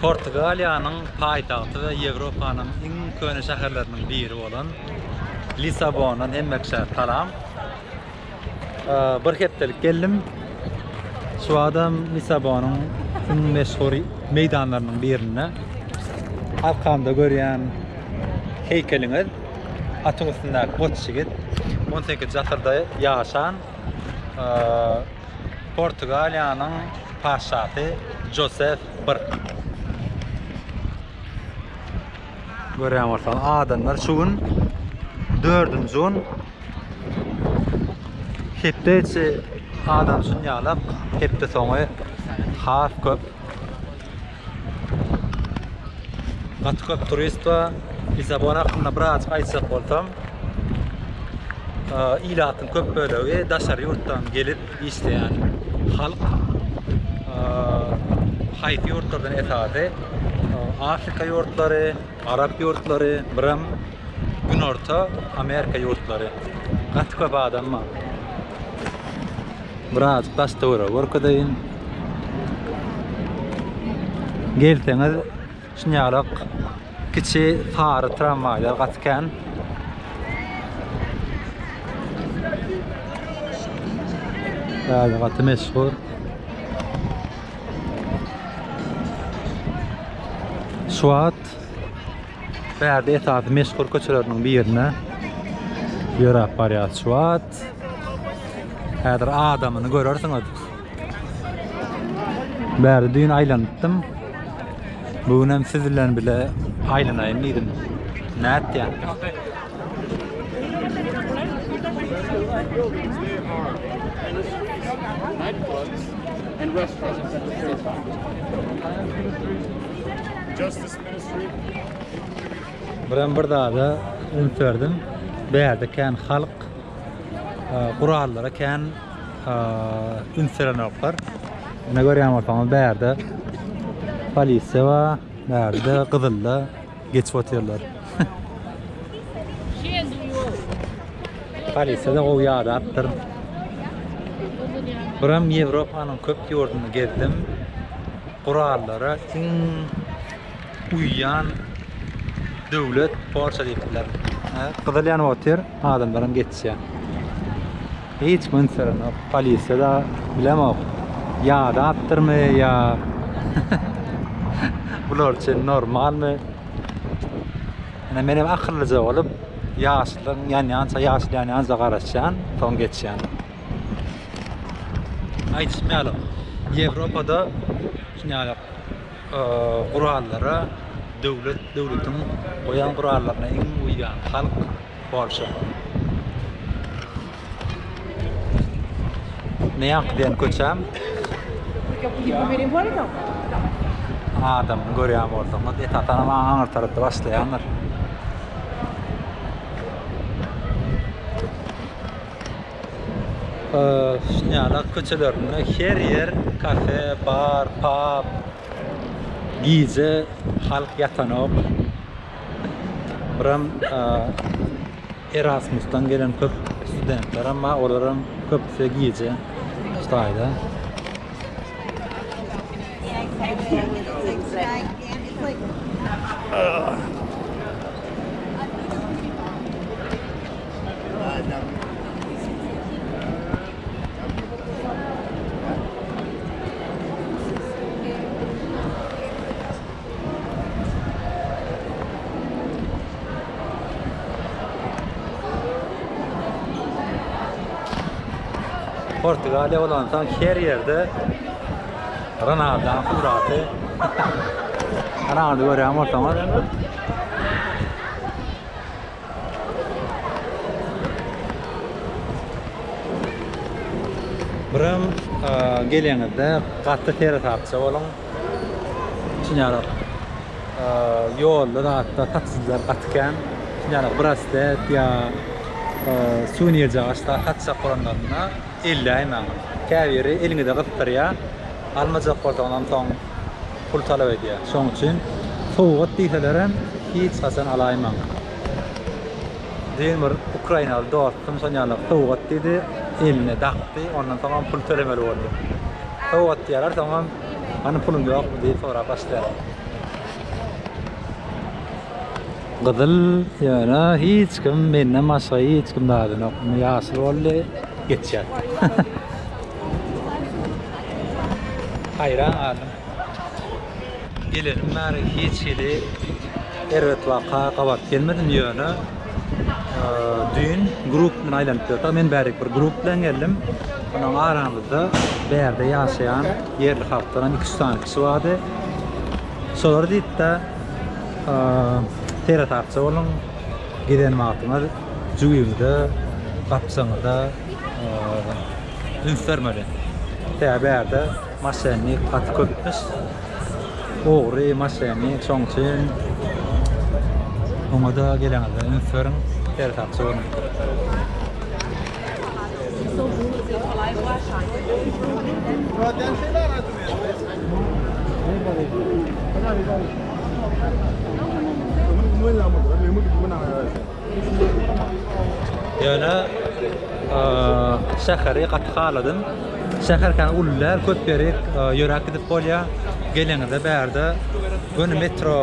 Portugaliýanyň paýtagty we Ýewropanyň iň köne şäherleriniň biri bolan Lissabondan hemme kişä salam. Bir hepdelik geldim. Şu adam Lissabonyň iň meşhur meýdanlarynyň birinde. Arkamda görýän heýkeliňiz atyň üstündäki goç ýigit 18 nji asyrda ýaşan Portugaliýanyň patyşasy Josef I. Görýän bolsaňyz, adamlar şu gün dördünji gün hepde içi adam üçin ýaglak, hepde soňy has köp. Gaty köp turist bar. Lissabon hakynda birazjyk aýtjak bolsam, ilatyň köp bölegi daşary ýurtdan gelip işleýän halk. Haýsy ýurtlardan esasy? Afrika ýurtlary, Arap ýurtlary biram günorta amerika ýurtlary gaty köp adam bar. Biraz bastora görkezeýin. Gelseňiz şunýalak kiçi sary tramwaýlar gaty kän. Gaty meşhur. Şu wagt Bärde esasy meşhur köçeleriniň birine ýöräp barýar şu wagt. Häzir adamyny görersiňiz. Bärde düýn aýlanypdym. Bu gün hem siz bilen bile aýlanaýyn diýdim. Nätýä? Birem bir zada üns berdim. Bärde kän halk gurallara kän üns berenoklar. Ine görýän bolsaňyz bärde polisiýa bar, bärde gyzylda Geçip otyrlar. Polisiýada gowy ýadapdyr. Buram Ýewropanyň köp ýurduny gezdim. Gurallara iň uýýan döwlet Porsche diýipdiler. Gyzyl ýanyp otyr, adamlaram geçýär. Hiç kim ünslenok. Polisiýada bilemok. Ýadapdyrmy ýa bular üçin normalmy. Ine menem akyllyja bolup ýaşlygyň ýanýança ýaşyl ýanýanja garaşýan, soň geçýän. Aýdyşym ýaly Ýewropada şuňaly gurallara döwlet döwletiň goýan gurallaryna iň uýýan halk. Polşa. Ne ýaňky diýen köçäm? Adamyny görýän bolsaňyz, esasanam aňyr tarapda başlaýandyr. Şinýala köçelerinde her ýer kafe, bar, pub. Gije halk ýatanok. Buram Erasmusdan gelen köp studentlerim bar. Olaryň köpüsi gije Hytaýda. Portugaliýa bolansoň her ýerde Ronaldoň suraty. Ronaldo görýän bolsaňyz. Biram e, geleňizde gaty seresapça boluň. Çynarok ýolda zatda taksiçiler gaty kän. Çynarok braslet ýa suwenir jagaşda satjak bolanlarynda elläýmäň. Käbiri eliňize gysdyrýar, almajak bolsaňyzam soň pul talap edýär. Şonuň üçin sowgat diýselerem hiç haçan alaýmaň. Diýen bir ukrainaly dostum şol ýaly sowgat diýdi, eline dakdy, ondan soňam pul tölemeli boldy. Sowgat diýýärler, soňam hany puluň ýokmy diýip sorap başlaýarlar. Gyzyl ýöne hiç kim menden başga hiç kim dadynok. Indi ýaşyl boldy, geçýär. Haýran galdym. Gelenim bäri hiç hili erbet waka gabat gelmedim ýöne düýn grup bilen aýlanyp ýördik. Men bärik bir grup bilen geldim. Onuň aramyzda bärde ýaşaýan ýerli halkdan hem 2-3 sany kişi bardy. Şolar diýipde seresapja boluň. Giden wagtyňyz jübiňize, gapjyňyza üns bermeli. Sebäbi bärde Maşennik gaty köpmüş. Ogry, maşennik şoň üçin oňada geleňizde üns beriň, ter sakçy boluň. Ýöne şäheri gaty haladym. Şäher kän uly däl, köp ýeri ýöräp gidip bolýar. Geleniňizde bärde göni metro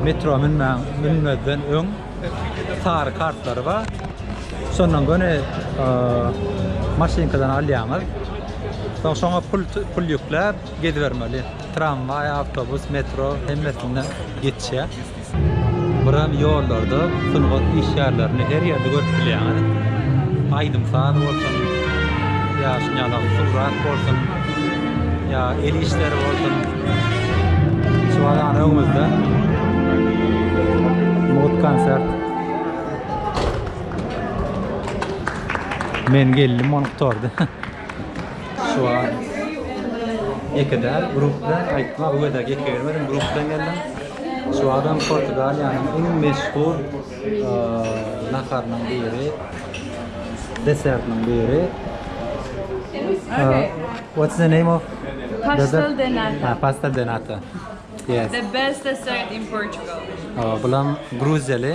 metro münmäň, münmezden öň sary kartlary bar. Şondan göni maşynkadan alýaňyz. Soň şoňa pul pul ýükläp gezibermeli. Tramwaý, awtobus, metro hemmesinde geçýär. Ýaşaýjylar. Buram ýollarda sungat işgärlerini her ýerde görüp bilýäňiz. Aýdym-saz bolsun, ýa şunýaly surat bolsun, ýa el işleri bolsun. Şu wagam öňümizde mugt konsert. Men geldim onuň tordy. Şu an ýeke däl, grup bilen aýtma, bu gezek ýeke gelmedim, grup bilen geldim. Şu adam Portugaliýanyň iň meşhur naharynyň biri, desertiniň biri. Okay. What's the name of? Pastel de nata. Ha, pastel de nata. Yes. The best dessert in Portugal. Bulam Gruziýaly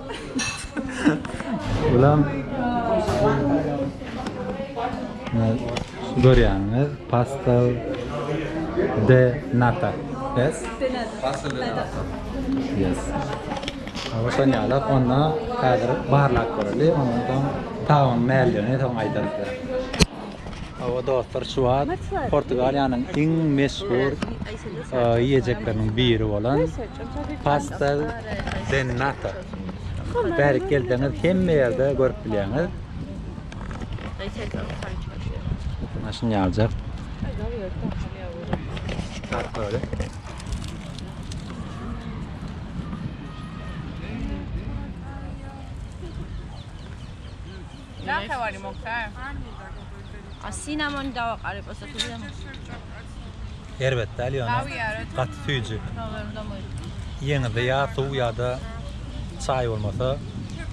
Ulan görýäňiz pasta de nata yes pasta de nata yes Awşan ýalak onda häzir barlap göreli ondan soň tagamyň näldigi soň aýdarys. Awa dostlar şu wagt Portugaliýanyň iň meşhur ýeýjekleriniň biri bolan pasta de nata. Bärik gelseňiz hemme ýerde görüp bilýäňiz. Maşyn ýaljak. Tatly. Na kawali mokta. A sinamon dawak alyp osa kuzem. Erbet däl ýöne gaty süýji. Ýeňizde ýa suw ýa-da çaý bolmasa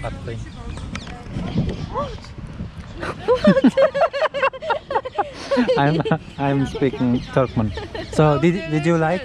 gaty kyn. I'm I'm speaking Turkmen. So did did you like?